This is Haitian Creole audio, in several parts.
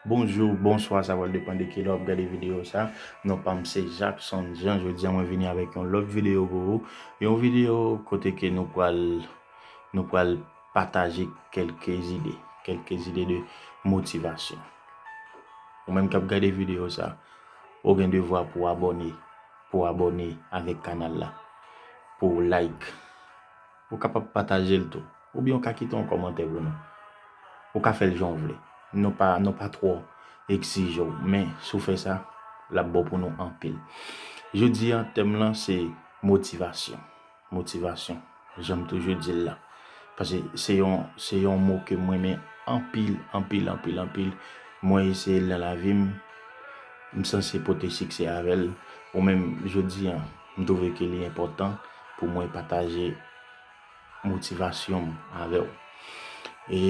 Bonjou, bonswa sa pral depan de kilè wap gade video sa, non pam se Jackson Jean jodi an mwen vini avèk yon lòt video pou ou, yon video kote ke nou pral nou pral pataje kelke zide, kelke zide de motivasyon ou menm kap gade video sa ou gen devwa pou abòne pou abòne avèk kanal la pou like. Ou kapab pataje l tou. Oubyen ou ka kite yon kòmantè pou nou. Ou ka fè l jan w vle. Nou pa nou pa twò egzije w. Men, si w fè sa, l ap bon pou nou anpil. Jodi a, tèm lan se motivasyon. Motivasyon, jan m toujou di l la. Pase se yon se yon mo ke m renmen anpil, anpil, anpil, anpil. Mwen eseye l nan lavi m. M sanse pote siksè avè l. Ou menm, jodi a, M twouve ke li enpòtan pou mwen pataje motivasyon m avè w. E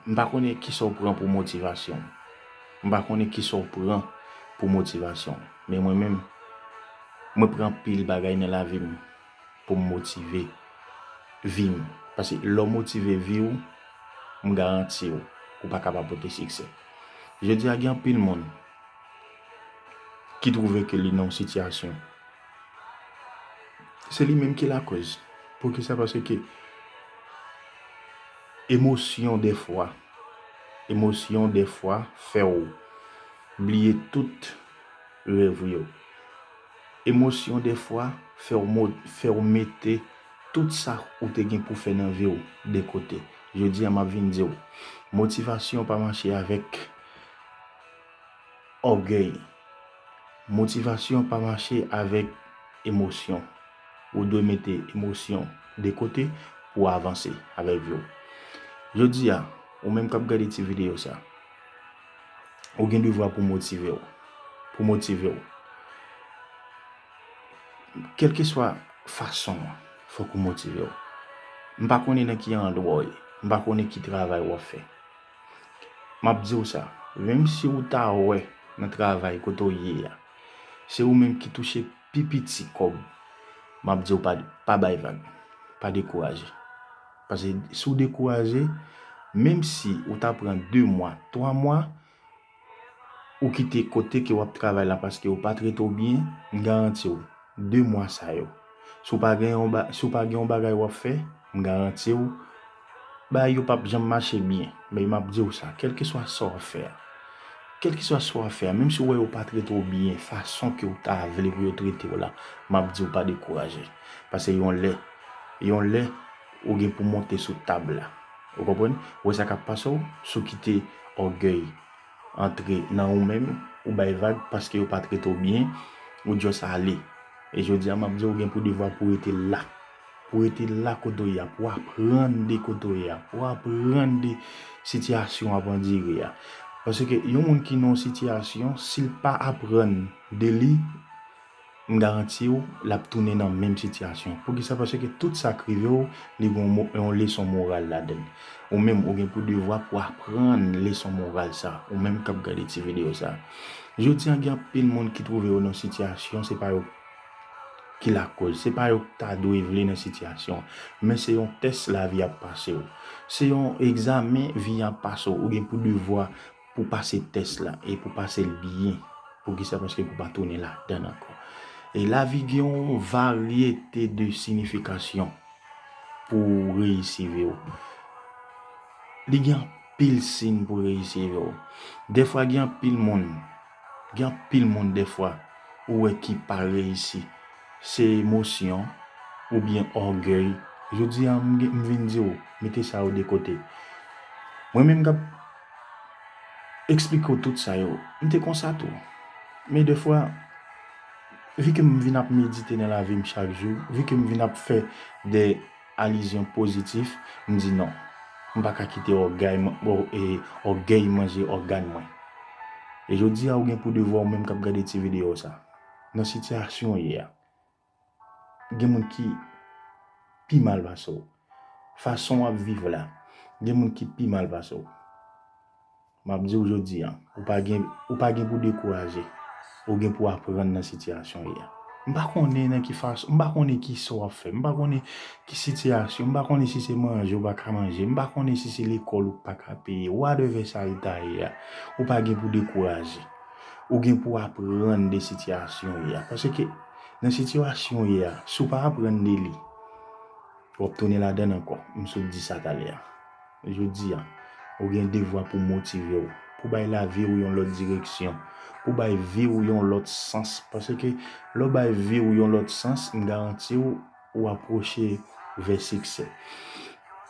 m pa konnen kisa w pran pou motivasyon. M pa konnen kisa w pran pou motivasyon. Men mwen menm, mwen pran anpil bagay nan lavi m pou m motive vi m. Paske lè w motive vi w, m garanti w, ou pa ka pa pote siksè. Jodi a gen anpil moun ki twouve ke li nan yon sitiyasyon, se li menm ki lakòz. Poukisa? Paske emosyon defwa, emosyon defwa fè w bliye tout rèv ou yo. Emosyon defwa fè w mo, fè w mete tout sa ou te gen pou fè nan vi w de kote. Jodi a m ap vin di w, motivasyon pa mache avèk. Ògèy. Motivasyon pa mache avèk emosyon. Ou dwe mete emosyon de kote pou w avanse avèk vi w. Jodi a, ou menm k ap gade ti videyo sa, ou gen devwa pou motive w. Pou motive w. Kèlkeswa fason an, fòk ou motive w. M pa konnen nan ki andwa w ye. M pa konnen ki travay w ap fè. Map diw sa, menm si ou ta wè nan travay kote ou ye a, se ou menm ki touche pi piti kòb, map diw pa bay vag, pa dekouraje. Pase si ou dekouraje, menm si ou ta pran 2 mwa, 3 mwa, ou kite kote ke wap travay la paske yo pa trete w byen, m garanti w, 2 mwa sa yo, si w pa gen yon ba, si w pa gen yon bagay wap fè, m garanti w, bagay yo pap janm mache byen. Men map di w sa, kèlkeswa sa wap fè a, kèlkeswa sa wap fè a, menm si w wè yo pa trete w byen fason ke w ta vle pou yo trete w la, map di w pa dekouraje. Pase yon lè, yon lè. Ou gen pou monte sou tab la. Ou konprann? Ou wè sa kap pase w? Si w kite ògèy antre nan ou menm, ou bay vag paske yo pa trete w byen, ou just ale. E jodi a map di w, ou gen pou devwa pou rete la. Pou rete la kote w ye a, pou aprann de kote w ye a, pou aprann de sitiyasyon w ap andire a. Paske yon moun ki nan yon sitiyasyon, si l pa aprann de li, M garanti w lap tounen nan menm sitiyasyon. Poukisa? Paske tout sa k rive w, li gen yon leson moral ladan l. Ou menm ou gen pou devwa pou aprann leson moral sa, ou menm k ap gade ti videyo sa. Jodi an gen anpil moun ki twouve yo nan yon sitiyasyon se pa yo ki lakoz, se pa yo k ta dwe vle nan sitiyasyon an. Men se yon tès lavi ap pase w. Se yon egzamen vi an ap pase w. Ou gen pou devwa pou pase tès la e pou pase l byen. Poukisa? Paske pou pa tounen ladan l ankò. E lavi gen yon varyete de sinifikasyon pou reyisi vi w. Li gen anpil sin pou reyisi vi w. Defwa gen anpil moun, gen anpil moun defwa ou wè ki pa reyisi. Se emosyon oubyen ògèy. Jodi a m vin di w, mete sa yo de kote. Mwen menm k ap. eksplike w tout sa yo. M te konsa tou. Men defwa, vi ke m vin ap medite nan lavi m chak jou, vi ke m vin ap fè de alizyon pozitif, m di non. M pa ka kite ògèy manje ògàn mwen. E jodi a ou gen pou devwa ou menm k ap gade ti videyo sa. Nan sitiyasyon ou ye a. Gen moun ki pi mal pase w. Fason w ap viv la, gen moun ki pi mal pase w. M ap di w jodi an, ou pa gen, ou pa gen pou dekouraje. Ou gen pou aprann nan sitiyasyon w ye a. M pa konnen nan ki fason, m pa konnen ki sa w ap fè, m pa konnen ki sitiyasyon, m pa konnen si se manje ou pa ka manje, m pa konnen si se lekòl ou pa ka peye, whatever sa l ta ye a, ou pa gen pou dekouraje. Ou gen pou aprann de sitiyasyon w ye a. Paske. Nan sitiyasyon w ye a, si w pa aprann de li, w ap tounen ladan l ankò. M sot di sa talè a. Jodi a, ou gen devwa pou w motive w, pou w bay lavi w yon lòt direksyon, pou w bay vi w yon lòt sans. Paske lè w bay vi w yon lòt sans, m garanti w, ou apwoche vè siksè.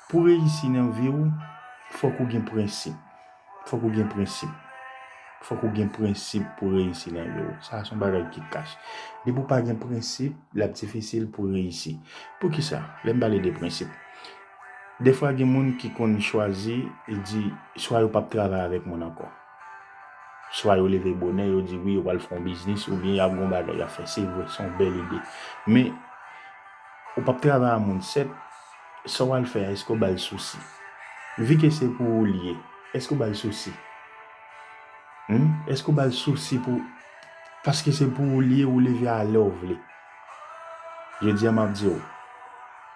Pou reyisi nan vi ou, fòk ou gen prensip. Fòk ou gen prensip. Fòk ou gen prensip pou reyisi nan vi ou. Sa a son bagay ki kach. Depi ou pa gen prensip, l ap difisil pou reyisi. Pou ki sa? Lè m pale de prensip. Dèfwa gen moun ki konn chwazi, li di, swa yo p ap travay avèk moun ankò. Swa yo leve bonè, yo di wi yo pral fè yon biznis oubyen y ap gen yon bagay y ap fè. Se vre, se yon bèl ide. Men, ou p ap travay a moun 7, sa w al fè a èske w ba l sousi? Vi ke se pou ou li ye, èske w ba l sousi? Hum, èske w ba l sousi pou paske se pou ou li ye, ou leve a lè w vle. Jodi a m ap di w,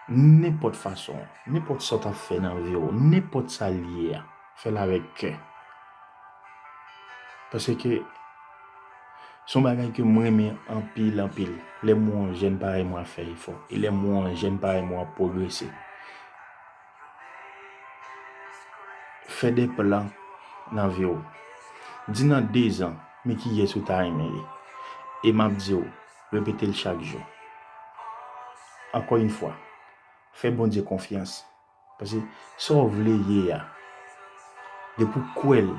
nenpòt fason, nenpòt sa w ta fè nan vi w, nenpòt sa li ye a, Fè l avèk kè. Paske se yon bagay ke mwen renmen anpil anpil. Lè m wè yon jèn parèy mwen ap fè efò. E lè m wè yon jèn parèy mwen ap pwogrese. Fè de plan nan vi w. Di nan dezan, men kiyès ou ta renmen ye. E m ap di w, repete l chak jou. Ankò yon fwa, fè Bondye konfyans. Pase sa w vle ye a, depi w kwè l,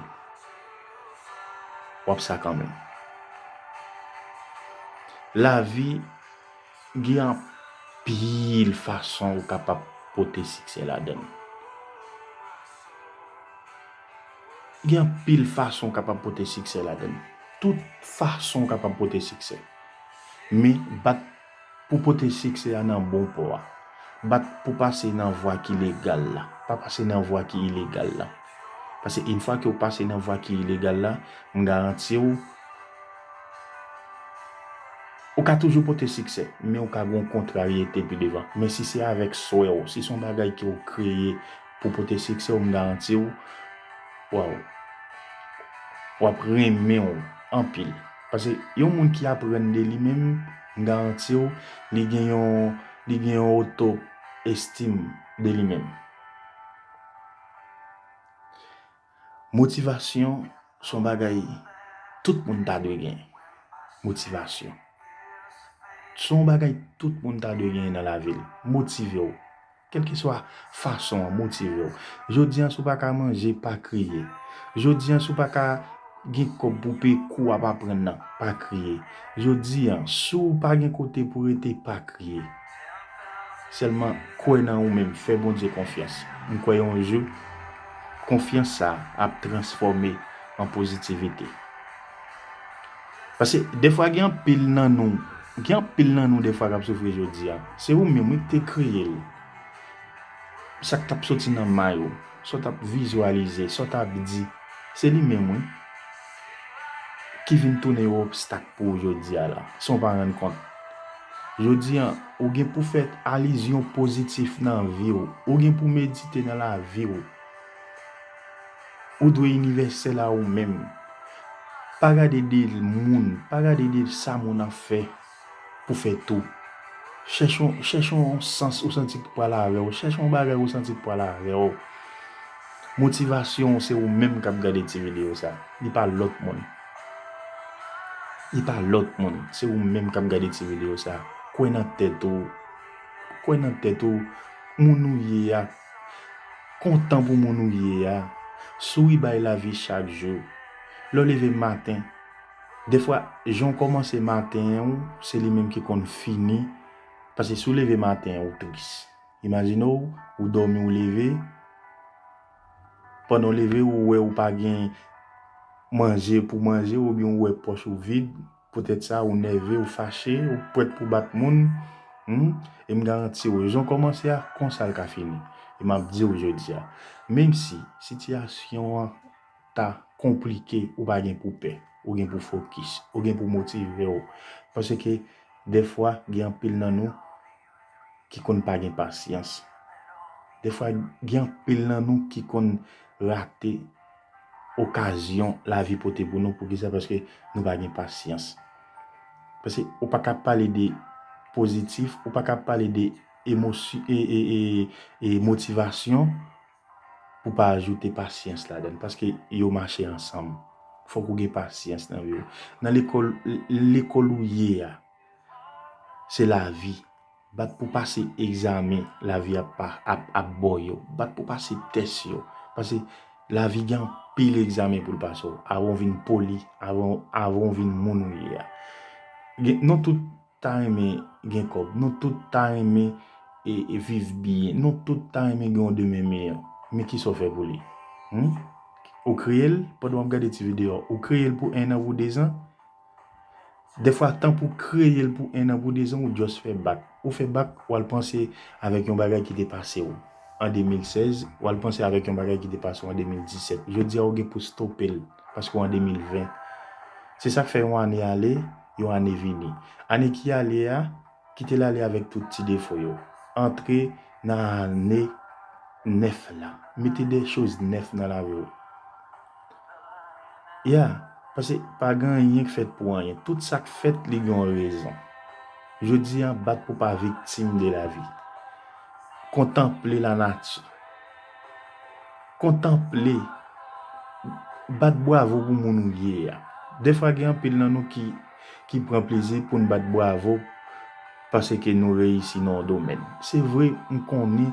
w ap sa kanmenm. Lavi gen anpil fason ou kapab pote siksè ladan l. Gen anpil fason ou kapab pote siksè ladan l. Tout fason ou kapab pote siksè. Men bat. Pou pote siksè a nan bon pò a. Bat pou pase nan vwa ki legal la. Pa pase nan vwa ki ilegal la. Pase yn fwa ke w pase nan vwa ki ilegal la, m garanti w, ou ka toujou pote siksè, men ou ka gen yon kontraryete pi devan. Men si se avèk swè w, si se yon bagay ke w kreye pou pote siksè w, m garanti w, waw, w ap renmen w anpil. Pase yon moun ki aprann de li menm, m garanti w, li gen yon, li gen yon oto estim de li menm. Motivasyon se yon bagay tout moun ta dwe gen. Motivasyon. Se yon bagay tout moun ta dwe gen nan lavi l. Motive w. Kèlkeswa fason an motive w. Jodi an si w pa ka manje, pa kriye. Jodi an si w pa ka gen kòb pou w peye kou w ap aprann nan, pa kriye. Jodi an si w pa gen kote pou w rete, pa kriye. Sèlman kwè nan ou menm, fè Bondye konfyans. M kwè yon jou, konfyans sa a ap transfòme an pozitivite. Pase defwa gen anpil nan nou, gen anpil nan nou defwa kap soufri jodi a. Se ou menm wi ki te kreye l. Sa k tap soti nan may ou, sa w tap vizyalize, sa w tap di, se li menm wi ki vin tounen yon obstak pou ou jodi a la, san w pa rann kont. Jodi a, ou gen pou fè alizyon pozitif nan vi w, ou gen pou medite nan lavi w. Ou dwe inivèsèl a ou menm. Pa gade de moun, pa gade de sa moun ap fè pou fè tou. Chèche yon, chèche yon sans ou santi ki pral avè w, chèche yon bagay ou santi ki pral avè w. Motivasyon w se ou menm kap gade ti videyo sa. Li pa lòt moun. Li pa lòt moun. Se ou menm kap gade ti videyo sa. Kwè nan tèt ou. Kwè nan tèt ou. Moun ou ye a. Kontan pou moun ou ye a. Souri bay lavi chak jou. Lè w leve maten. Dèfwa jan w kòmanse maten ou se li menm ki konn fini. Pase si w leve maten ou tris. Imajine w ou dòmi ou leve. Pandan w leve ou wè ou pa gen manje pou manje oubyen ou wè pòch ou vid. Poutèt sa, ou nève, ou fache, ou prèt pou bat moun, humm, e m garanti w, jan w kòmanse a, konsa l ka fini. E m ap di w jodi a, menmsi sitiyasyon an ta konplike, ou pa gen pou pè, ou gen pou fokis, ou gen pou motive w, paske dèfwa gen anpil nan nou, ki konn pa gen pasyans. Defwa gen anpil nan nou ki konn rate okazyon lavi pote pou nou. Poukisa? Paske nou pa gen pasyans. Paske ou pa ka pale de pozitif, ou pa ka pale de motivasyon pou pa ajoute pasyans la den. Paske yo mache ansanm. Fok ou gen pasyans nan vi ou. Nan lekol ou ye a. Se lavi. Bat pou pase egzamen lavi ap ba w yo. Bat pou pase tès yo. Pase lavi gen anpil egzamen pou l pase w avan w vin poli, avan w vin moun ou ye a. Nou tout ta renmen gen kòb. Nou tout ta renmen viv byen. Nou tout ta renmen gen yon demen miyò. Men ki sa w fè pou li? Ou kreye l pandan w ap gade ti videyo a? Ou kreye l pou ennan, pou dezan? Dèfwa tan pou kreye l pou 1 an pou 2 zan ou just fè bak. Ou fè bak w al panse avèk yon bagay ki te pase w an 2016, w al panse avèk yon bagay ki te pase w an 2017. Jodi a ou gen pou stope l paske w an 2020. Se sa k fè yon ane ale, yon ane vini. Ane ki ale a. Kite l ale avèk tout ti defo yo. Antre nan ane nèf la. Mete de choz nèf nan lavi w. Yeah! Pase pa gen anyen k fèt pou anyen. Tout sa k fèt li gen yon rezon. Jodi a bat pou pa viktim de lavi. Kontanple lanati. Kontanple. Bat bwavo pou moun ou ye a. Defwa gen anpil nan nou ki. ki pran plezi poun bat bravo paseke nou reyisi nan yon domèn. Se vre m konnen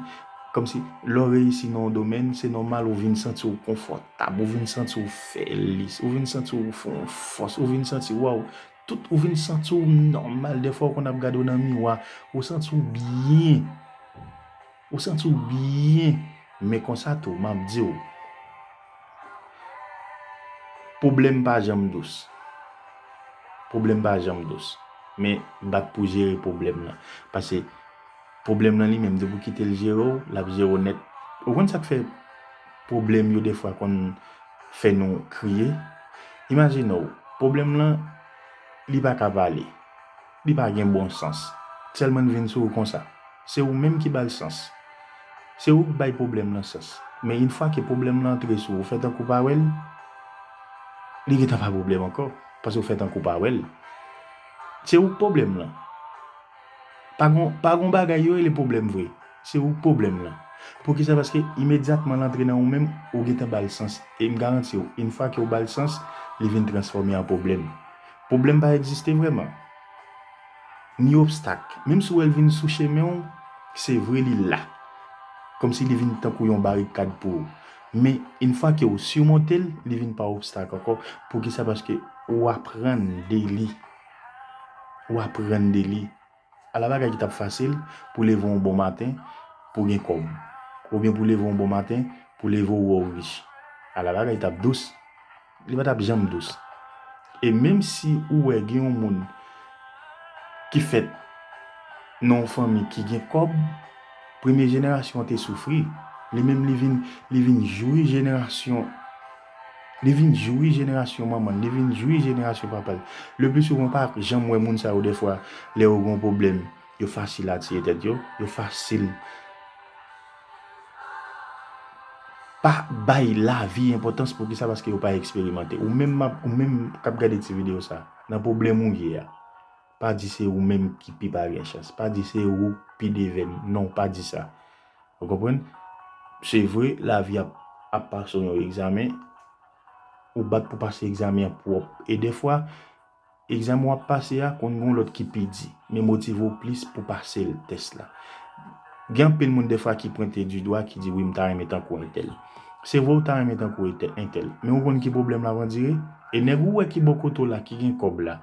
kòmsi lè w reyisi nan yon domèn se nòmal ou vin santi w konfòtab, ou vin santi w fèlis, ou vin santi w fè yon fòs, ou vin santi waw, tout ou vin santi w nòmal, dèfwa ou konn ap gade w nan miwa, ou santi w byen. Ou santi w byen men konsa tou map di w pwoblèm pa janm dous pwoblèm pa janm dous men bat pou jere pwoblèm nan pase pwoblèm nan li menm depi w kite l jere w lap jere w nèt ou konn sak fè pwoblèm yo defwa konn fè nou kriye imajine w pwoblèm lan li paka pale. Li pa gen bon sans. Selman n vin sou ou konsa. Se ou menm ki ba l sans. Se ou k bay pwoblèm lan sans. Men yn fwa ke pwoblèm lan antre sou ou, ou fè tankou w pa wè l, li gentan pa pwoblèm ankò, paske w fè tankou w pa wè l. Se ou k pwoblèm lan. Pa gon, pa gon bagay yo rele pwoblèm vre. Se ou k pwoblèm lan. Poukisa? Paske imedyatman l antre nan ou menm, ou gentan ba l sans. E m garanti w, yn fwa ke ou ba l sans, li vin transfòme an pwoblèm. Pwoblèm pa egziste vrèman. Ni obstak. Menm si w wè l vin sou chemen w, se vre li la. Kòmsi li vin tankou yon barikad pou ou. Men, infwa ke w simonte l, li vin pa obstak ankò. Poukisa? Paske ou aprann de li. Ou aprann de li. Ala bagay ki t ap fasil pou leve yon bon maten pou w gen kòb! Oubyen pou w leve yon bon maten pou w leve w wè w rich! Ala bagay t ap dous! Li pa t ap janm dous! E menm si ou wè gen yon moun ki fèt nan yon fanmi ki gen kòb, premye jenerasyon an te soufri, li menm li vin jwi jenerasyon. Li vin jwi jenerasyon manman l, li vin jwi jenerasyon papa l. Le pli souvan, ou pa janm wè moun sa yo dèfwa lè yo gen yon pwoblèm, yo fasil a tiye tèt yo, yo fasil pa bay lavi enpòtans. Poukisa? Paske yo pa eksperimante. Ou menm k ap gade ti videyo sa a, nan pwoblèm ou ye a, Pa di se ou menm ki pi pa gen chans. Pa di se ou ki pi devèn. Non, pa di sa. Ou konprann? Se vre, lavi a ap pase w yon egzamen. Ou bat pou pase egzamen an pou wap. E defwa, egzamen wap pase a konn gen yon lòt ki pi di. Men motive w plis pou pase l, tès la. Gen anpil moun defwa ki pwente di dwa ki di wi m ta renmen tankou entèl. Se vre ou ta renmen tankou entèl. Men ou konn ki pwoblèm la vandire? E nèg ou wè ki bò kote w la ki gen kòb la.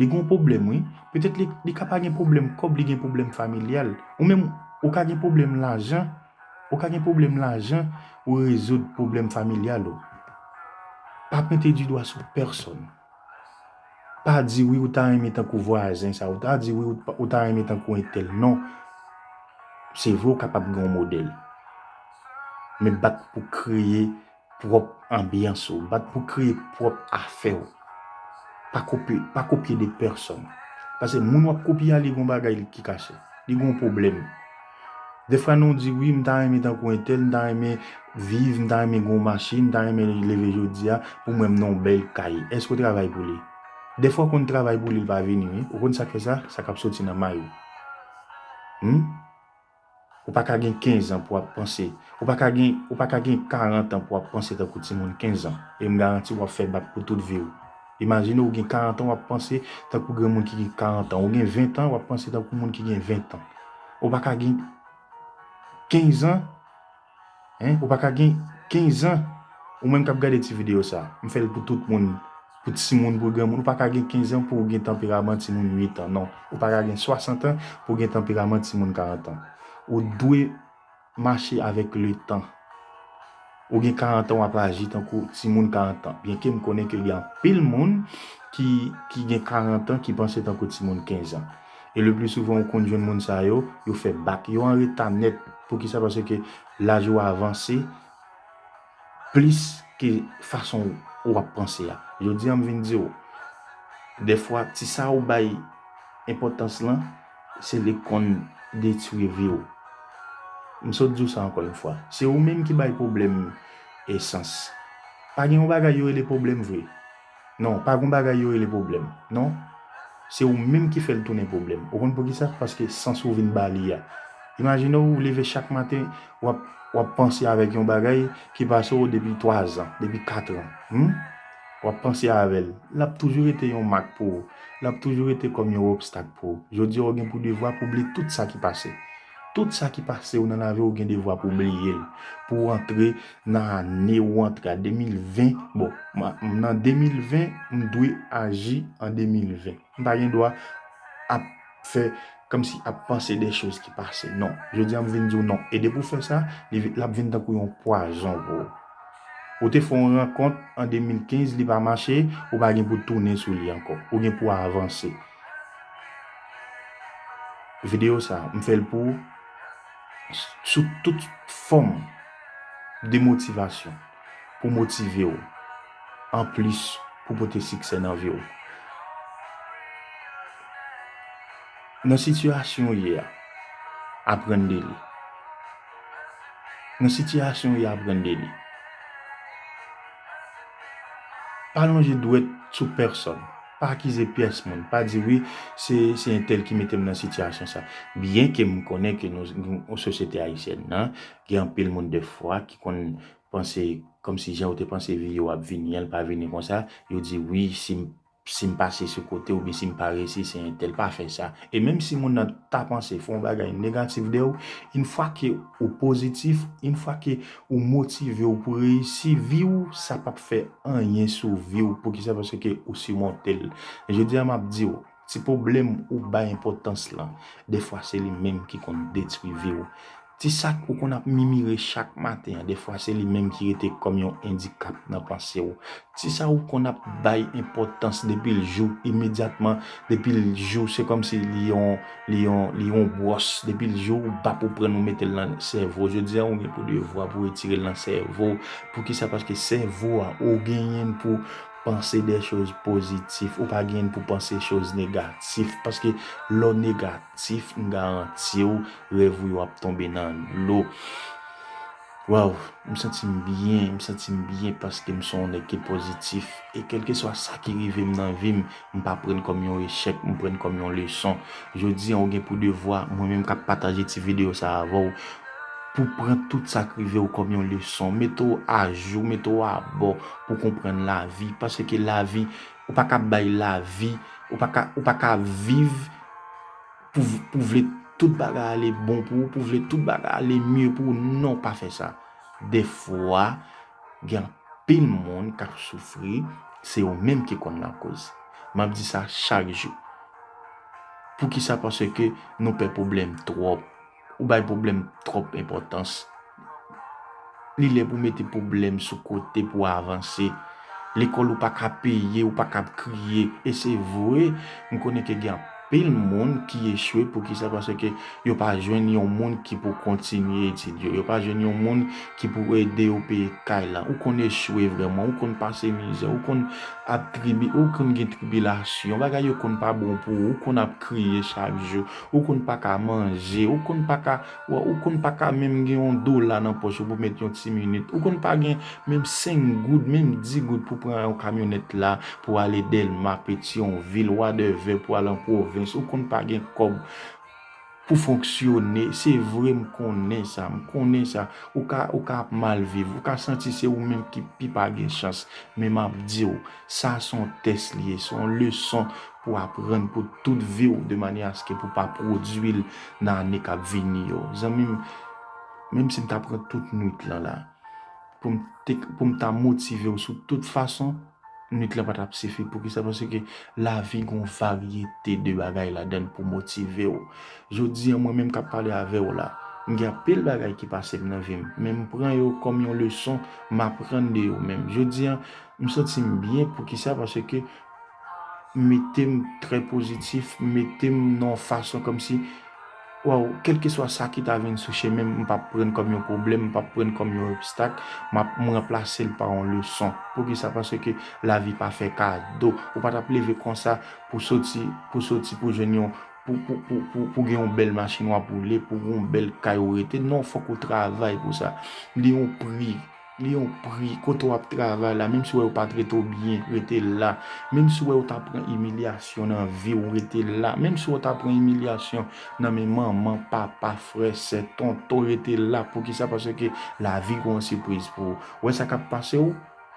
Li gon pwoblèm wi. Petèt li ka pa gen pwoblèm kòb li gen pwoblèm familyal. Ou menm ou ka gen pwoblèm lajan ou ka gen pwoblèm lajan ou rezoud pwoblèm familyal ou. Pa pwente di dwa sou pèsòn. Pa di wi ou ta renmen tankou vwazen sa ou ta di wi ou ta renmen tankou entèl non. Se vre ou kapab gen yon modèl men bat pou kreye Pwòp anbyans ou. Bat pou kreye pwòp afè ou. Pa kopye, pa kopye de pèsòn. Pase moun wap kopye a li gon bagay li ki kache. Li gon pwoblèm. Defwa nou di wi m ta renmen tankou entèl, m ta renmen viv, m ta renmen gon machin, m ta renmen leve jodi a pou mwen m nan yon bèl kay. Èske ou travay pou li? Defwa ou konn travay pou li li pa vini wi. Ou konn sak fè sa? Sa kap soti nan may ou. Humm. Ou pa ka gen kenzan pou ap panse, ou pa ka gen, ou pa ka gen karantan pou ap panse tankou timoun kenzan e m garanti w ap fè bak pou tout vi w. Imajine ou gen karantan w ap panse tankou granmoun ki gen karantan, ou gen ventan w ap panse tankou moun ki gen ventan. Ou pa ka gen kenzan. Hein ou paka gen 15 ans ou menm kap gade ti video sa m fèl pou tout moun pou timoun pou granmoun ou paka gen 15 ans pouw gen tanperaman timoun 8 ans non ou paka gen 60 ans pouw gen tanperaman timoun 40 ans ou t dwe mache avèk le tan ou gen 40 ans wap aji tankou timoun 40 ans byen kem konnen ke gen anpil moun ki gen 40 ans ki panse tankou timoun 15 ans. E le pli souvan ou konn jwenn moun sa yo, yo fè bak. Yo an reta nèt. Poukisa? Paske laj ou avanse plis ke fason ou ap panse a. Jodi an m vin di ou, dèfwa ti sa ou bay enpòtans lan, se li k konn detwi vi ou. M sot di ou sa ankò yon fwa. Se ou menm ki bay pwoblèm esans. Pa gen yon bagay yo rele pwoblèm vre. Non, pa gon bagay yo rele pwoblèm, non. Se ou menm ki fè l tounen pwoblèm. Ou konn poukisa? Paske sans ou vin ba li a. Imajine w ou leve chak maten, w ap, w ap panse avèk yon bagay ki pase w depi twazan, depi katran. Hum? W ap panse avè l. L ap toujou rete yon mak pou ou. L ap toujou rete kòm yon obstak pou ou. Jodi a ou gen pou devwa pou w bliye tout sa ki pase. Tout sa ki pase w nan lavi w gen devwa pou w bliye l, pou w antre nan ane ou antre a 2020, bon m nan 2020 m dwe aji an 2020, m pa gen dwa ap fè kòmsi ap panse de choz ki pase non, jodi a m vin di w non e depi w fè sa l ap vin tankou yon pwazon pou w. Ou te fè yon rankont an 2015 li pa mache, ou pa gen pou tounen sou li ankò, ou gen pou avanse. Video sa m fel pou sou tout fom de motivation pou motive w an plis pou pote sikse nan vi w. Nan sitiyasyon w ye a aprann de li. Nan sitiyasyon w ye a aprann de li. Pa lonje dwet sou peson. Pa akize pyès moun. Pa di wi, se se entèl ki mete m nan sitiyasyon sa. Byen ke m konnen ke nou nou sosyete ayisyèn nan, gen anpil moun dèfwa ki konn panse kòmsi jan yo te panse vi yo ap vini an, l pa vini konsa. Yo di wi, si m si m pase sou kote oubyen si m pa resi se entèl. Pa fè sa. E menm si moun nan ta panse, fè yon bagay negatif de ou, in fwa ke ou pozitif, in fwa ke Ou motive ou pou reyisi vi ou sa pap fè anyen sou vi ou poukisa paske ou simontel jodia map diw ti poblèm ou bay enpotans lan defwa se li menm ki konn detwi vi ou ti sak ou konn ap mimire chak maten an defwa se li menm ki rete kòm yon endikap nan panse ou Ti sa ou konn ap bay enpòtans depi l jou imedyatman depi l jou se kòm si li yon li yon li yon bwòs depi l jou ou bap ou prann ou mete l nan sèvo jodi an ou gen pou devwa pou retire l nan sèvo w poukisa paske sèvo a ou genyen pou panse dè choz pozitif ou pa genyen pou panse choz negatif paske lè w negatif m garanti w rèv ou yo ap tonbe nan dlo. Waww m santim byen m santim byen paskem son w nèg ki pozitif e kelkeswa sa ki rivem nan vim m pa prann kòm yon echèk m prann kòm yon leson jodi an ou gen pou devwa mwen menm kap pataje ti video sa avèw pou pran tout sak rivew kòm yon leson mete w ajou mete w abò pou konprann lavi paske lavi ou paka bay lavi ou paka viv. pou vle tout bagay ale bon pou ou, pou vle tout bagay ale mye pou ou, non pa fè sa. De fwa, gen anpil moun kap soufri, se yo menm ki konn lakoz. Map di sa chak jou. Poukisa? Paske nou pè pwoblèm twòp. Ou bay pwoblèm twòp enpòtans. Li lè pou mete pwoblèm sou kote pou avanse. Lekòl ou pa ka peye, ou pa ka ap kriye. E se vre, m konnen ke gen anpil moun ki echwe. Poukisa? Paske yo pa jwenn yon moun ki pou kontinye etid yo. Yo pa jwenn yon moun ki pou ede yo peye kay la. Ou konn echwe vrèman. Ou konn pase mizè. Ou konn ap tribi, ou konn gen tribilasyon. Bagay yo konn pa bon pou ou. Ou konn ap kriye chak jou. Ou konn pa ka manje, ou konn pa ka, ou konn pa ka menm gen yon dola nan pòch ou pou met yon ti minit, ou konn pa gen menm senk goud, menm di goud pou pran yon kamyonèt la pou ale Dèlma, Petyonvil, wadèvè pou al an pwovens, ou konn pa gen kòb pou fonksyone. Se vre m konnen sa, m konnen sa. Ou ka, ou ka ap mal viv, ou ka santi se ou menm ki pi pa gen chans. Men m ap di ou, Sa a se yon tès li ye, se yon leson pou w aprann pou tout vi w, de manyè aske pou w pa pwodui l nan ane k ap vini yo. Zanmi m, menm si m ta pran tout nuit lan la, pou m te, pou m ta motive w sou tout fason, nuit lan pa t ap sifi. Poukisa? Paske lavi gen yon varyete de bagay ladan l pou motive w. Jodi an, mwen menm k ap pale avè w la, m gen anpil bagay ki pase m nan vi m, men m pran yo kòm yon leson m aprann de yo menm. Jodi an, M santi m byen poukisa paske m mete m trè pozitif, m mete m nan yon fason kòmsi waw kèlkeswa sa ki ta vin sou chemen m m p ap pran kòm yon pwoblèm, m p ap pran kòm yon obstak, m ap m ranplase l pa yon leson. Poukisa paske lavi pa fè kado, ou pa t ap leve konsa pou soti pou soti pou jwenn yon pou pou pou pou gen yon bèl machin w ap woule, pou gen yon bèl kay ou rete non fòk ou travay pou sa. Li yon pri. Li yon pri kote w ap travay la menm si w wè yo pa trete w byen rete la menm si w wè ou ta pran imilyasyon nan vi w rete la menm si w ta pran imilyasyon nan men manman papa frè sè tonton rete la poukisa paske lavi gon sipriz pou ou wè sa k ap pase w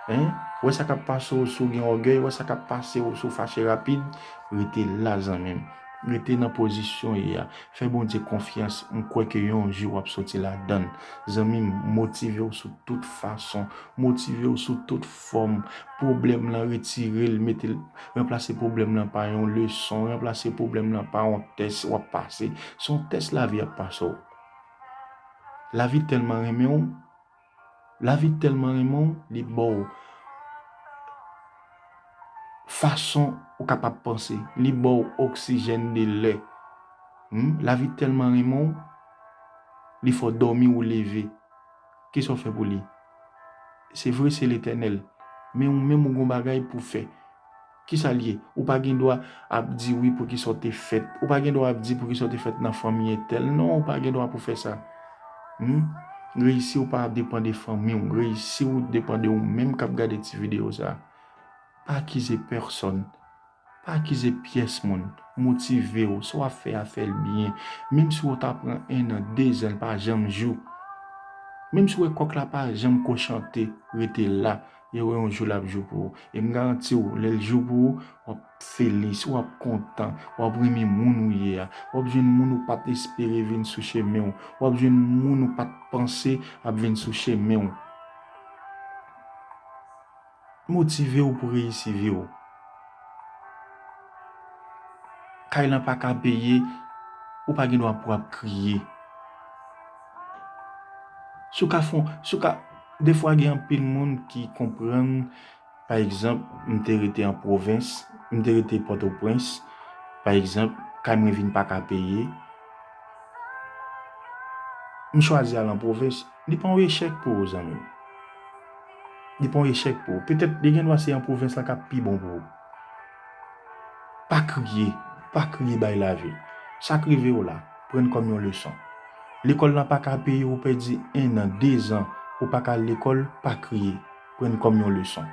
hein wè sa k ap pase w si w gen ògèy wè sa k ap pase w si w fache rapid rete la zanmi m rete nan pozisyon w ye a fè Bondye konfyans m kwè ke yon jou w ap soti ladan l. Zanmi m, motive w sou tout fason. Motive w sou tout fòm. Pwoblèm lan retire l, mete l, ranplase pwoblèm lan pa yon leson, ranplase pwoblèm lan pa yon tès w ap pase. Se yon tès lavi ap pase w. Lavi tèlman renmen w, lavi tèlman renmen w, li ba w fason ou kapab panse. Li ba w oksijèn de lè. Lavi tèlman renmen w. Li fè w dòmi ou leve. Ki sa w fè pou li? Se vre se Letènèl, men ou menm ou gen yon bagay pou w fè. Ki sa l ye? Ou pa gen dwa ap di wi pou ki sa w te fèt. Ou pa gen dwa ap di pou ki sa w te fèt nan fanmi entèl. Non, ou pa gen dwa pou w fè sa. Hum, reyisi w pa depan de fanmi w. Reyisi w depan de ou menm k ap gade ti videyo sa a. Pa akize pèsòn. Pa akize pyès moun. Motive w. Sa w ap fè a, fè l byen. Menm si wè ta pran ennan, dezan, l pa janm jou. Menm si wè kòk la pa janm ko chante, rete la. E wè yon jou l ap jou pou ou. E m garanti w, lè l jou pou ou, w ap felis, w ap kontan, w ap renmen moun ou ye a. W ap jwenn moun ou pa t espere vin sou chemen w. W ap jwenn moun ou pa t panse ap vin sou chemen w. motivew pou reyisi viw. Kay lan paka peye ou pa gen dwa pou ap kriye. Si w ka fon, si w ka, defwa gen anpil moun ki konprann pa egzanp m te rete an pwovens, m te rete pòtoprens pa egzanp kay mwen vin paka peye m chwazi al an pwovens li pa yon echèk pou ou zanmim. Li pa yon echèk pou ou. Petèt li gendwa se an pwovens lan k ap pi bon pou ou. Pa kriye, pa kriye bay lavi. Sa k rive w la, pran l kòm yon leson. Lekòl lan pa ka peye ou pèdi ennan, dezan ou pa ka al lekòl, pa kriye, pran l kòm yon leson.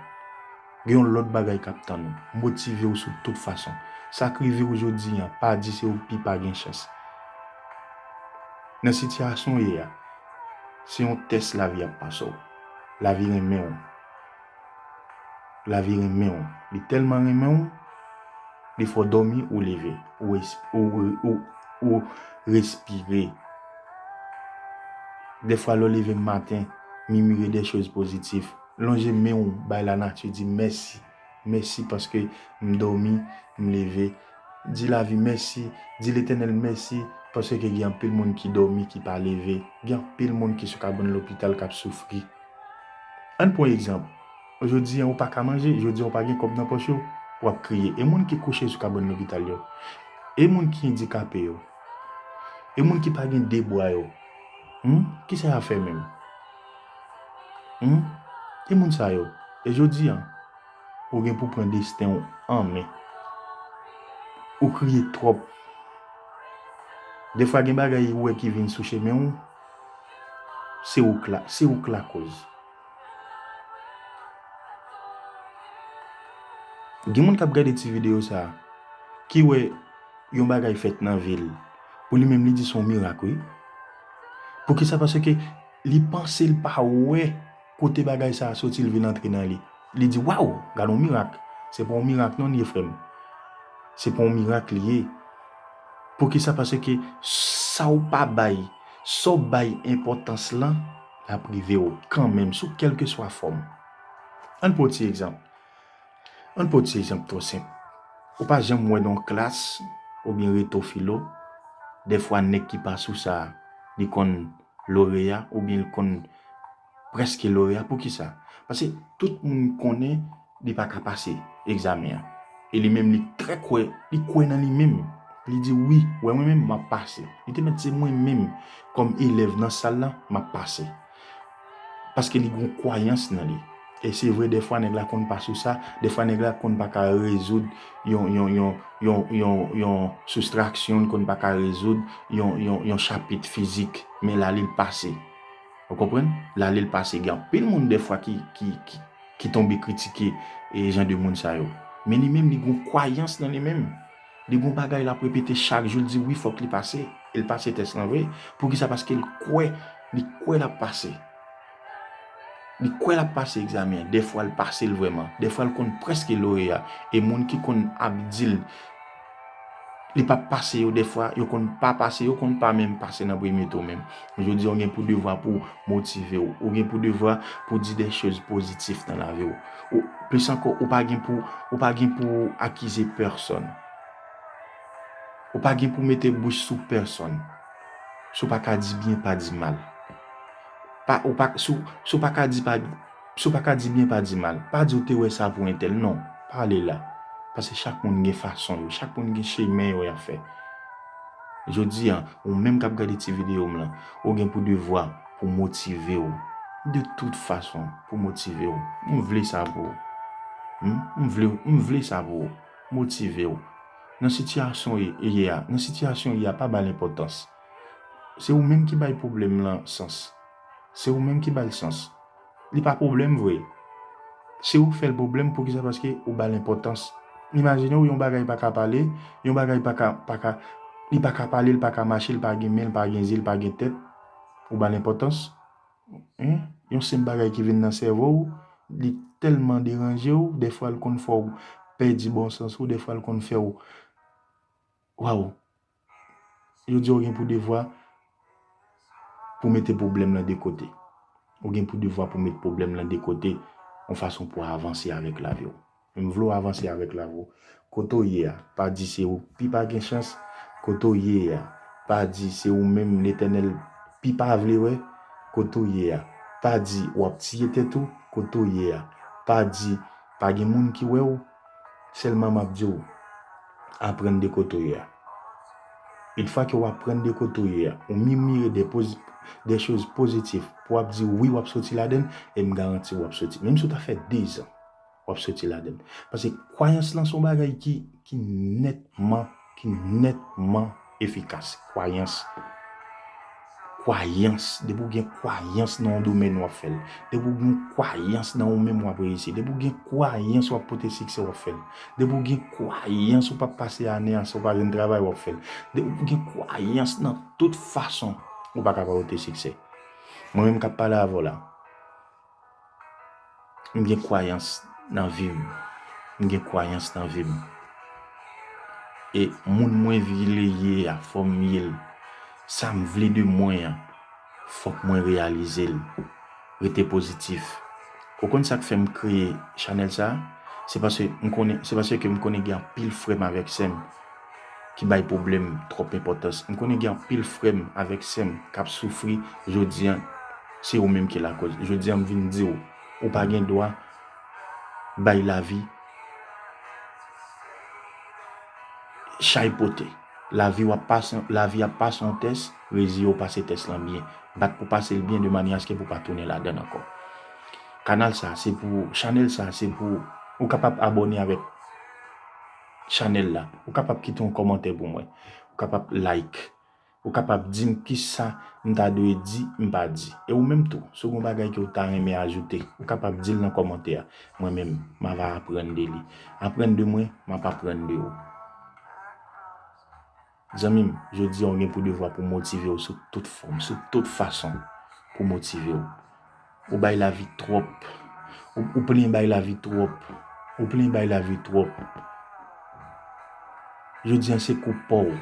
Gen yon lòt bagay k ap tann ou, motive w sou tout fason. Sa k rive w jodi an, pa di se ou ki pa gen chans. Nan sitiyasyon w ye a, se yon tès lavi ap pase w. Lavi renmen w. Lavi renmen w. Li tèlman renmen w, li fè w dòmi, ou leve. Ou respire. De fwa lè w leve maten, mimire de choz pozitif. Lonje men w bay lanati, di mèsi. mèsi paske m dòmi m leve di lavi mèsi di letènèl mèsi paske ke gen anpil moun ki dòmi ki pa leve gen anpil moun ki sou kabann lopital kap soufri ann pwan egzanp jodi an ou pa ka manje jodi an ou pa gen kòb nan pòch ou wap kriye e moun ki kouche sou kabann lopital yo e moun ki endikape yo e moun ki pa gen 2 bwa yo humm kisa yap fè menm. Humm ki moun sa yo e jodi an ou gen pou pran desten w an men ou kriye twòp defwa gen bagay ou wè ki vin sou chemen w se ou k la se ou k lakoz gen moun kap gade ti video sa ki wè yon bagay fèt nan vil pou li menm li di son mirak wi poukisa paske Li panse l pa wè kote bagay sa a soti l vin antre nan li. Li di, Waw! Gad yon mirak! Se pa yon mirak non li ye, frè m. Se pa yon mirak li ye. Poukisa? Paske sa w pa bay, sa w bay enpòtans lan, l ap rive w kanmenm, sou kèlkeswa fòm. An n pran yon ti egzanp. An n pran yon ti egzanp twò senp. Ou pa janm wè nan yon klas oubyen reto filo, dèfwa nèg ki pa sou sa a, li konn. loreya oubyen l konn prèske loreya poukisa pase tout moun konnen li pa ka pase egzamen an e li menm li trè kwè li kwè nan li menm li di wi wè mwen menm map pase li te mèt se mwen menm kòm elèv nan sal lan map pase paske li gon kwayans nan li. E se vre dèfwa nèg la konn pa sou sa, dèfwa nèg la konn pa ka rezoud yon yon yon yon yon yon soustraksyon, li konn pa ka rezoud yon yon yon chapit fizik. Men la li l pase. Ou konprann? La li l pase. Gen anpil moun dèfwa ki ki ki ki tonbe kritike e jan de moun sa yo. Men li menm li gon kwayans nan li menm. Li gon bagay l ap repete chak jou, li di wi fòk li pase. E l pase tès lan vre. Poukisa? Paske l kwè, li kwè l ap pase. Li kwè lap pase egzamen an, dèfwa l pase l vrèman, dèfwa l konn prèske loreya e moun ki konn ap di l li pap pase yo dèfwa yo konn pa pase yo konn pa menm pase nan premye tou menm. Jodi a ou gen pou devwa pou w motive w, ou gen pou devwa pou w di de choz pozitif nan lavi w. Ou plis ankò ou pa gen pou ou pa gen pou w akize pèsòn. Ou pa gen pou w mete bouch sou pèsòn. Si w pa ka di byen pa di mal. Pa ou pa si si w pa ka di pa si w pa ka di byen pa di mal. Pa di ou te wè sa pou entèl non, pa ale la. Pase chak moun gen fason yo, chak moun gen chemen yo y ap fè. Jodi a, ou menm k ap gade ti videyo m lan, ou gen pou devwa pou w motive w de tout fason, pou w motive w. M vle sa pou ou. Humm m vle m vle sa pou ou. Motive w. Nan sitiyasyon ou ye a, nan sitiyasyon ou ye a pa ba l enpòtans. Se ou menm ki bay pwoblèm lan sans. Se ou menm ki ba l sans. Li pa pwoblèm vre. Se ou k fè l pwoblèm, poukisa paske ou ba l enpòtans. Imajine w yon bagay pa ka pale, yon bagay pa ka, pa ka, li pa ka pale, l pa ka mache, l pa gen men, l pa gen zye, l pa gen tèt, ou ba l enpòtans? Hein? Yon senp bagay ki vin nan sèvo w, li tèlman deranje w, dèfwa l konn fè w pèdi bon sans ou, dèfwa l konn fè w, waw! Yo di ou gen pou devwa pou mete pwoblèm lan de kote. Ou gen pou devwa pou mete pwoblèm lan de kote yon fason pou avanse avèk lavi ou. Men m vle ou avanse avèk lavi ou. Kote ou ye a, pa di se ou ki pi pa gen chans. Kote ou ye a, pa di se ou menm Letènèl pi pa vle wè. Kote ou ye a, pa di w ap tiye tèt ou. Kote ou ye a, pa di pa gen moun ki wè ou. Sèlman map di w, aprann de kote w ye a. Une fwa ke w aprann de kote w ye a, ou mimire de poz, de choz pozitif pou w ap di wi w ap soti ladann e m garanti w ap soti. Menm si w ta fè 2 zan, w ap soti ladann. Paske kwayans lan se yon bagay ki, ki nètman. ki nètman efikas. Kwayans, kwayans, depi ou gen kwayans nan yon domèn wap fèl, depi ou gen kwayans nan yon menm wap reyisi, depi ou gen kwayans wap pote siksè wap fèl, depi ou gen kwayans ou pap pase ane an san ou pa jwenn travay wap fèl, depi ou gen kwayans nan tout fason ou paka pa pote siksè. Mwen menm kap pale avèw la, M gen kwayans nan vi m. M gen kwayans nan vi m. E moun mwen vle ye a, fò m ye l. Sa m vle de mwen an, fòk mwen reyalize l. Rete pozitif. Ou konn sa k fè m kreye chanèl sa? Se paske m konnen, se paske m konnen gen anpil frè m avèk sè m. ki bay pwoblèm twòp enpòtans. M konnen gen anpil frè m avèk sè m k ap soufri jodi an, se yo menm ki lakòz. Jodi an m vin di w, ou pa gen dwa bay lavi chay pote. Lavi w ap pase, lavi ap pase yon tès, reziye w pase tès lan byen. Bat pou w pase l byen de manyè aske pou w pa tounen ladan l ankò. Kanal sa se pou ou, chanèl sa se pou ou. Ou kapab abòne avèk. Chanel la. Ou kapab kite yon komantè pou mwen. Ou kapab like. Ou kapab di m kisa m ta dwe di m pa di. E ou menm tou, si w gen yon bagay ke w ta renmen ajoute, ou kapab di l nan komantè a. Mwen menm, m ava aprann de li. Aprann de mwen, m ap aprann de ou. Zanmi m, jodi a ou gen pou devwa pou motive ou sou tout fòm, sou tout fason pou motive ou. Ou bay lavi twòp. Ou plen bay lavi twòp. Ou plen bay lavi twòp. Jodi a se kou pa w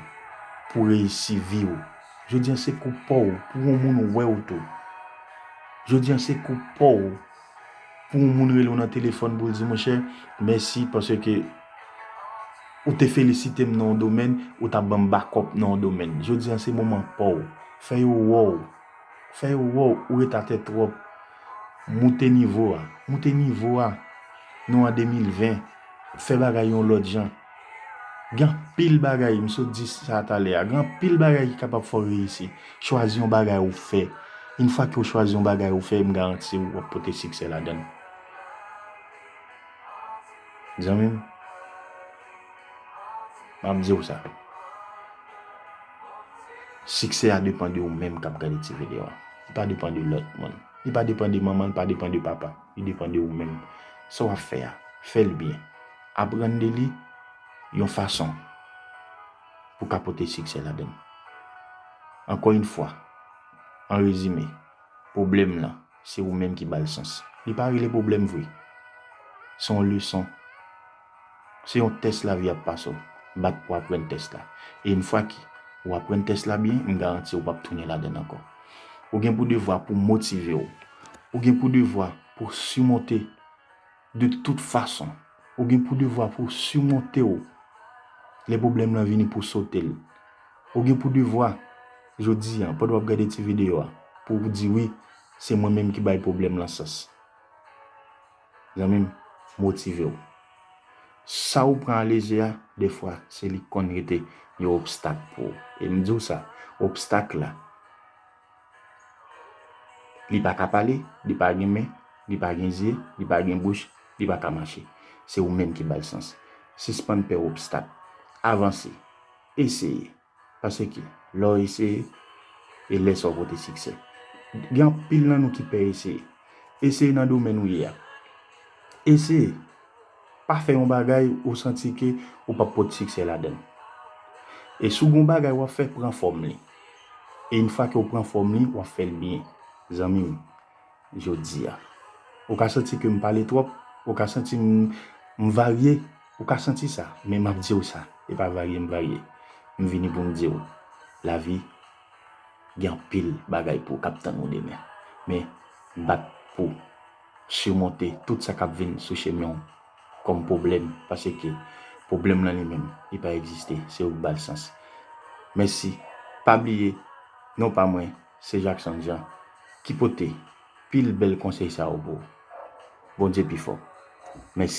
pou reyisi vi ou. Jodi a se kou pa w pou yon moun wè ou tou. Jodi a se kou pa w pou yon moun rele w nan telefòn pou l di monchè mèsi paske ou te felisite m nan yon domèn, ou ta ban m bakòp nan yon domèn. Jodi an se moman pa w. Fè yo wè w. Fè yo wè w ou ret atè twòp. Moute nivo a. Moute nivo a. Nou an 2020. Fè bagay yon lòt jan. Gen anpil bagay, m sot di sa talè a, gen anpil bagay ki kapab fè w reyisi. Chwazi yon bagay ou fè. Une fwa ke w chwazi yon bagay ou fè, m garanti w, w ap pote siksè ladan l. Zanmi m, m ap di w sa, siksè a depan de ou menm k ap gade ti videyo a. Li pa depan de lòt moun. Li pa depan de manman, li pa depan de papa. Li depan de ou menm. Sa w ap fè a, fè l byen. Aprann de li yon fason pou ka pote siksè ladan l. Ankò yon fwa, an rezime, pwoblèm lan, se ou menm ki ba l sans. Li pa rele pwoblèm vre. Se yon leson. Se yon tès lavi ap pase w. Bat pou aprann tès la. E yon fwa ke ou aprann tès la byen, m garanti ou pap tounen ladan l ankò. Ou gen pou devwa pou motive w. Ou gen pou devwa pou simonte. De tout fason, ou gen pou devwa pou w simonte w lè pwoblèm lan vini pou w sote l. Ou gen pou devwa, jodi a, pandan w ap gade ti videyo a, pou w di wi, se mwen menm ki bay pwoblèm lan sans. Zanmi m, motive w. Sa ou pran alejè a, dèfwa, se li ki konn rete yon obstak pou ou. E m di w sa, obstak la, Li pa ka pale, li pa gen men, li pa gen zye, li pa gen bouch, li pa ka mache. Se ou menm ki ba l sans. Sispann pè obstak. Avanse. Eseye. Paske, lè w eseye, e lè sa w pote siksè. Gen anpil nan nou ki pè eseye. Eseye nan domèn ou ye a. Eseye. Pa fè yon bagay ou santi ke ou pap pot siksè ladann. E si w gen yon bagay wap fè pran fòm li. E yn fwa ke w pran fòm li wap fèl byen. Zanmi m, jodi a. Ou ka santi ke m pale twòp, ou ka santi m m varye, ou ka santi sa. Men map di w sa, e pa varye m varye. M vini pou m di w, lavi gen anpil bagay pou kap tann ou demen. Men bat pou. simonte tout sa kap vin sou chemen w kòm pwoblèm paske pwoblèm lan li menm li pa egziste se ou k bal sans mèsi pa bliye non pa mwen se Jackson Jean ki pote pil bèl konsèy sa yo pou ou Bondye pi fò mèsi.